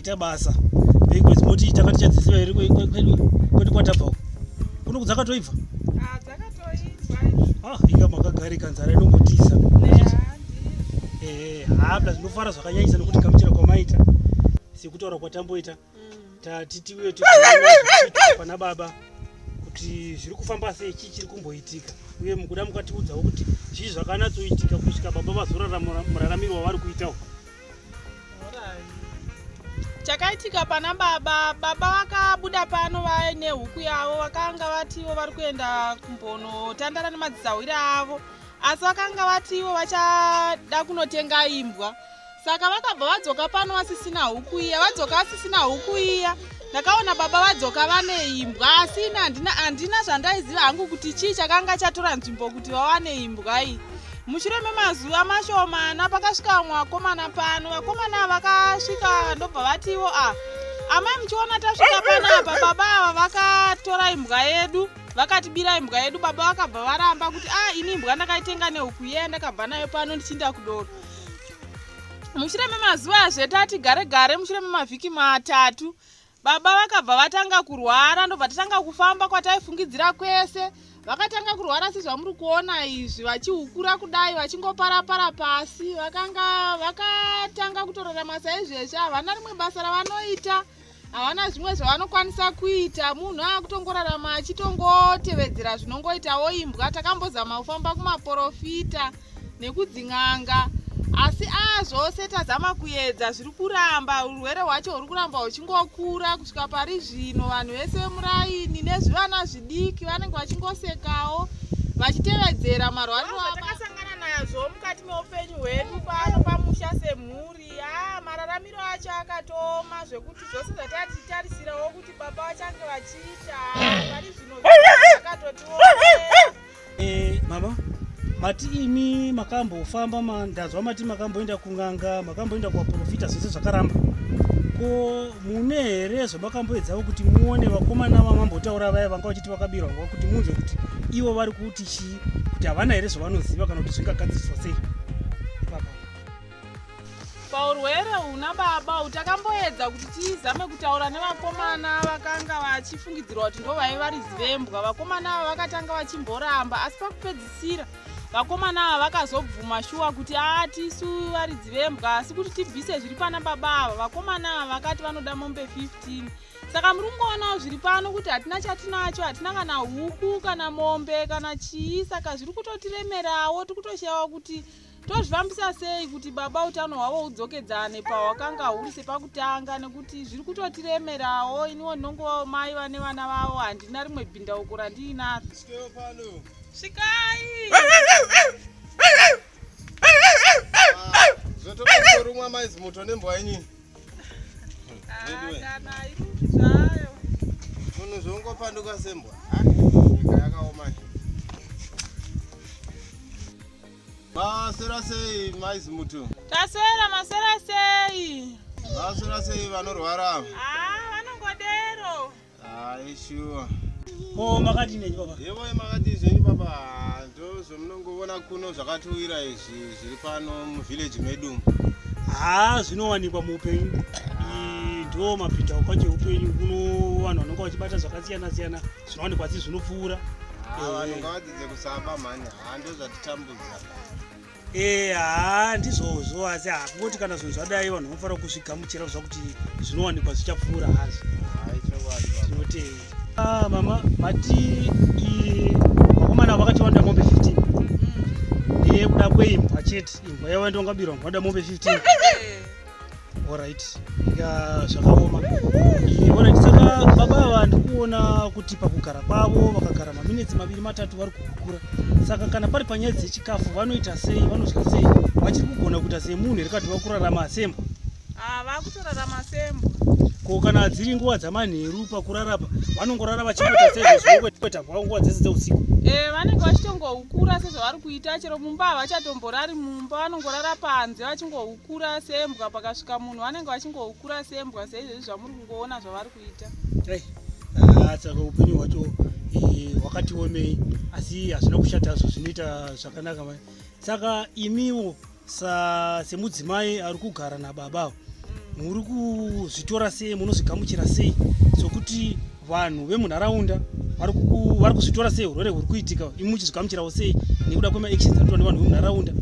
kuita basa because moti takati chadzidzira here kwedu kwatabva uko kuno kudzakatoibva Ah, inga makagarika nzara inongotiza eh, habla tinofara zvakanyanyisa nokuti kamuchira kwamaita sekutaura kwatamboita mm. tati tiuye pana baba kuti zviri kufamba sei chii chiri kumboitika uye mukuda mukatiudzawo kuti zvii zvakanatsoitika kusvika baba vazorara muraramiro wavari kuitawo chakaitika pana baba baba vakabuda pano vaine huku yavo vakanga vativo vari kuenda kumbonotandara nemadzisahwiri avo asi vakanga vativo vachada kunotenga imbwa saka vakabva vadzoka pano vasisina huku iya vadzoka vasisina huku iya ndakaona baba vadzoka vane imbwa asi ini handina handina zvandaiziva hangu kuti chii chakanga chatora nzvimbo kuti vawane imbwa iyi mushure memazuva mashomana pakasvika vamwe vakomana pano vakomana vakasvika ndobva vatiwo a ah, amai muchiona tasvika panapa baba ava vakatora imbwa yedu vakatibira imbwa yedu baba vakabva varamba kuti a ah, ini imbwa ndakaitenga nehuku yeye ndakabva nayo pano ndichinda kudoro mushure memazuva azvetati gare gare mushure memavhiki matatu baba vakabva vatanga kurwara ndobva tatanga kufamba kwataifungidzira kwese vakatanga kurwara sezvamuri kuona izvi vachihukura kudai vachingoparapara pasi vakanga vakatanga kutorarama saizvezvi havana rimwe basa ravanoita havana zvimwe zvavanokwanisa kuita munhu akutongorarama achitongotevedzera zvinongoitawo imbwa takambozama kufamba kumaporofita nekudzin'anga asi a zvose tazama kuedza zviri kuramba urwere hwacho huri kuramba huchingokura kusvika pari zvino vanhu vese vemuraini nezvivana zvidiki vanenge vachingosekawo vachitevedzera marwariro atakasangana nazvo mukati meupenyu hwedu pano pamusha semhuri Yaa mararamiro acho akatooma zvekuti zvose zvatatitarisirawo kuti baba vachange vachiita pari zvino zvakatotiomera. Eh, mama mati imi makambofamba ma- ndanzwa mati makamboenda kun'anga makamboenda kuvaprofita zvese zvakaramba ko mune here zvamakamboedzawo kuti muone vakomana vamambotaura vaya vanga vachiti vakabirwa nguva kuti munzwe kuti ivo vari kuti chii kuti havana here zvavanoziva kana kuti zvingagadziswa sei paurwere huna baba uyu takamboedza kuti tizame kutaura nevakomana vakanga vachifungidzirwa kuti ndovaive vari zivembwa vakomana ava vakatanga vachimboramba asi pakupedzisira vakomana ava vakazobvuma shuwa kuti aa tisu vari dzivembwa asi kuti tibvise zviri pana baba ava vakomana ava vakati vanoda mombe 15 saka muri kungoonawo zviri pano kuti hatina chatinacho hatina kana huku kana mombe kana chii saka zviri kutotiremerawo tiri kutoshayawo kuti tozvifambisa sei kuti baba utano hwavo hudzokedzane pahwakanga huri sepakutanga nekuti zviri kutotiremerawo iniwo ndinongovawo mai vane vana vavo handina rimwe bhindauko randiinaro svikai zvotoorumwa ah, maizi moto nembwa yenyini ah, munhu zvongopanduka sembwa ah, nyika yakaoma Masera sei mai Zimuto? Tasera masera sei? Masera sei vanorwara? Ah, vanongodero. Ah, sure. Ko makati nei baba? Yevo makati zvenyu baba, ndozvomunongovona kuno zvakatiwira izvi zviri pano muvillage medu umu. Ah, zvinowanikwa muupenyu. Ah. Ndo mapinda kwacho upenyu kuno vanhu vanonga vachibata zvakasiyana siyana. zvinowanikwa asi zvinopfuura ah, vanhu ngavadzidze kusaba mhani haa ah, ndozvatitambudza ee haa ndizvozvo asi hakungoti kana zvinhu zvadai vanhu vanofanira kuzvigamuchira kuziva kuti zvinowanikwa zvichapfuura hazvo tinotei ah, mama mati vakomana vakatiwanda mombe 15 mm. ee kuda kweimbwa chete imbwa yavo ndongabirwa ngoda mombe 15 Alright, ya zvakaoma. Alright, saka baba ava ndikuona kuti pakugara kwavo vakagara maminetsi maviri matatu vari kukura. Saka kana pari panyaya dzechikafu vanoita sei, vanodya sei, vachiri kugona kuita semunhu here kati vakurarama sembwa? Ah, vakutorarama sembwa. Ko kana dziri nguva dzamanheru pakurara pa vanongorara vachingoita sezvekuita kwavo nguva dzese dzeusiku? Eh, vanenge vachitongoukura sezvavari kuita chero mumba havachatomborari mumba vanongorara panze vachingoukura. kura sembwa pakasvika munhu vanenge vachingokura sembwa seizvezvi zvamuri kungoona zvavari kuita eh, ah, saka upenyu hwacho eh, hwakati omei asi hazvina kushata zvo zvinoita zvakanaka mai saka imiwo semudzimai ari kugara nababa mm. muri kuzvitora sei munozvigamuchira sei sokuti so vanhu vemunharaunda vari kuzvitora sei urwere huri kuitika imi muchizvigamuchirawo sei nekuda kwemaactions anoitwa nevanhu vemunharaunda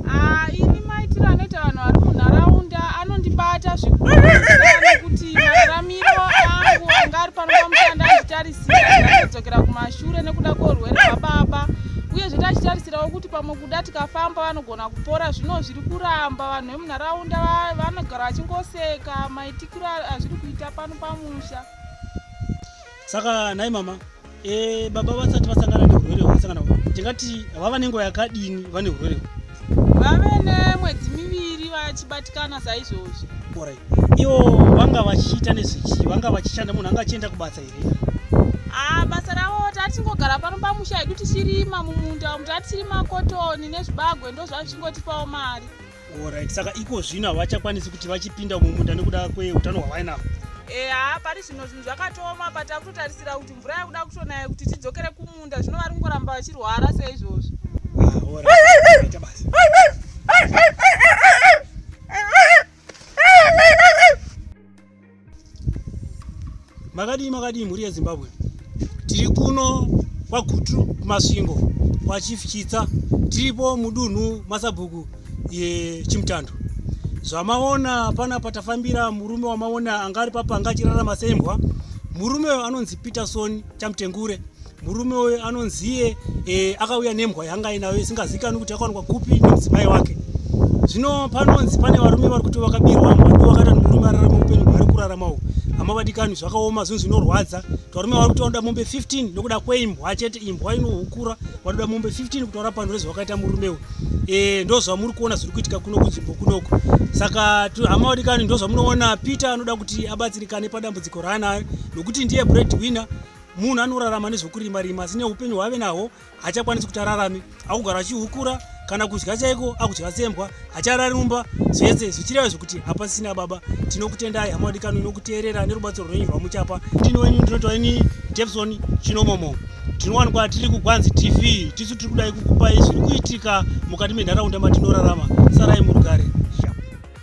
ah, ini maitiro anoita vanhu vari munharaunda anondibata zvikuti mararamiro angu anga ari pano pamushanda achitarisira kudzokera kumashure nekuda kweurwere hwababa uyezve tachitarisirawo kuti pamwe kuda tikafamba vanogona kupora zvino zviri kuramba vanhu vemunharaunda vanogara vachingoseka maitikiro azviri kuita pano pamusha saka nhai mama e, baba vasati vasangana neurwere hwavasangana tingati vava nenguva yakadini vane urwere vave nemwedzi miviri vachibatikana saizvozvi orit ivo vanga vachiita nezvechii vanga vachishanda munhu anga achienda kubasa here ah, basa ravo tatingogara pano pamusha hedu tichirima mumunda umu tatirima kotoni nezvibagwe ndozvazvichingotipawo mari Alright, saka iko zvino havachakwanisi kuti vachipinda mumunda nekuda kweutano hwavainavo eha pari zvino zvinhu zvakatooma but akutotarisira kuti mvura yakuda kutonaya kuti tidzokere kumunda zvino vari kungoramba vachirwara seizvozvo ah, makadii makadii mhuri yezimbabwe tiri kuno kwagutu kumasvingo kwachief chitsa tiripo mudunhu masabhuku yechimutando zvamaona pana patafambira murume wamaona anga ari papa anga achirarama sembwa murume uyo anonzi peterson chamutengure Murume uyu anonziye e, akauya nembwa yanga ainayo isingazikanwi kuti yakawanikwa kupi nemudzimai wake. Zvino panonzi pane varume vari kuti vakabirwa mbwa ndivo vakaita murume ararama upenyu hwaari kurarama uhu hamavadikani zvakaoma zvinhu zvinorwadza tvarume vari kuti vanoda mombe 15 nokuda kweimbwa chete imbwa inohukura vanoda mombe 15 kutaura pano rezvavakaita murume uyu e, ndo zvamuri kuona zviri kuitika kuno kunzvimbo kunoko saka hamavadikani ndo zvamunoona peter anoda kuti abatsirikane padambudziko raanayo nokuti ndiye bread winner Munhu anorarama nezvokurima rima asi neupenyu hwaave nahwo hachakwanisi kuti ararame. Akugara achihukura kana kudya chaiko akudya sembwa hacharari mumba zvese zvichireva zvekuti hapasisina baba. Tinokutendai hama wadikano inokuteerera nerubatsiro rwenyu rwamuchapa. Ndini wenyu ndinoitwa ini Debson Chinomomo. Tinowanikwa tiri kuGwanzi TV. Tisu tiri kudai kukupai zviri kuitika mukati menharaunda matinorarama. Sarai murugare.